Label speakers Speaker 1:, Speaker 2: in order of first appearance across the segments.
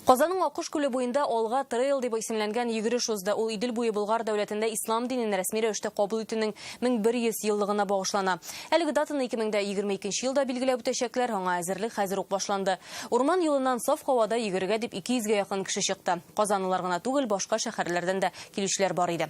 Speaker 1: Казанның Аккош күле буенда Алга трейл дип исемләнгән йөгереш узды. Ул Идел буе Болгар дәүләтендә ислам динен рәсми рәвештә кабул итүнең 1100 еллыгына багышлана. Әлеге датаны 2022 елда билгеләп үтәчәкләр, аңа әзерлек хәзер үк башланды. Урман юлыннан саф һавада йөгерергә дип 200 гә якын кеше чыкты. Казанлылар гына түгел, башка шәһәрләрдән дә килүчеләр бар иде.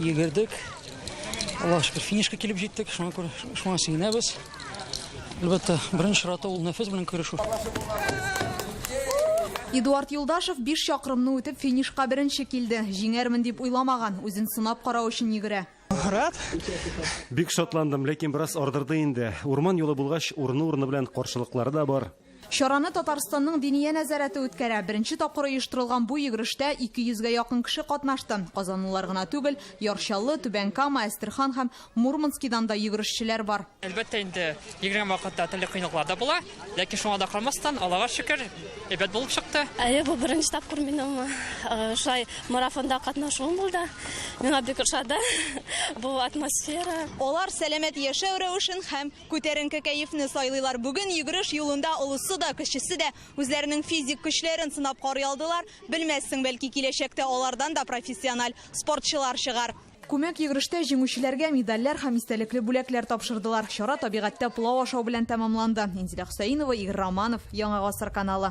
Speaker 1: Йөгердек. Аллаһ шөкер, финишка килеп җиттек. Шуңа күрә шуңа сөенәбез. Әлбәттә, беренче чиратта ул нәфес белән көрәшү. Эдуард Юлдашев 5 чакрымны үтеп финишка беренче килде. Җиңәрмен дип уйламаган, үзен сынап карау өчен йөгерә. Рад. Бик шатландым, ләкин бераз ардырды инде. Урман юлы булгач, урыны-урыны белән каршылыклары да бар. Чараны Татарстанның Диния нәзарәте үткәрә. Беренче тапкыр оештырылган бу йөгерештә 200 гә якын кеше катнашты. Казанлылар гына түгел, Яр Чаллы, Түбән Кама, Әстерхан һәм Мурманскидан да йөгерешчеләр бар. Әлбәттә инде, йөгергән вакытта төрле кыенлыклар да була, ләкин шуңа да карамастан, Аллага шөкер, әйбәт булып чыкты. Әйе, бу беренче тапкыр минем шулай марафонда катнашуым булды. Миңа бик ошады бу атмосфера. Алар сәламәт яшәү рәвешен һәм Күтәренке кәефне сайлыйлар. Бүген йөгереш юлында олысы да, кечесе дә үзләренең физик көчләрен сынап карый алдылар. Белмәссең, бәлки киләчәктә алардан да профессиональ спортчылар чыгар. Күмәк йөгерештә җиңүчеләргә медальләр һәм истәлекле бүләкләр тапшырдылар. Чара табигатьтә пылау ашау белән тәмамланды. Инзилә Хөсәенова, Игорь Романов, Яңа гасыр каналы.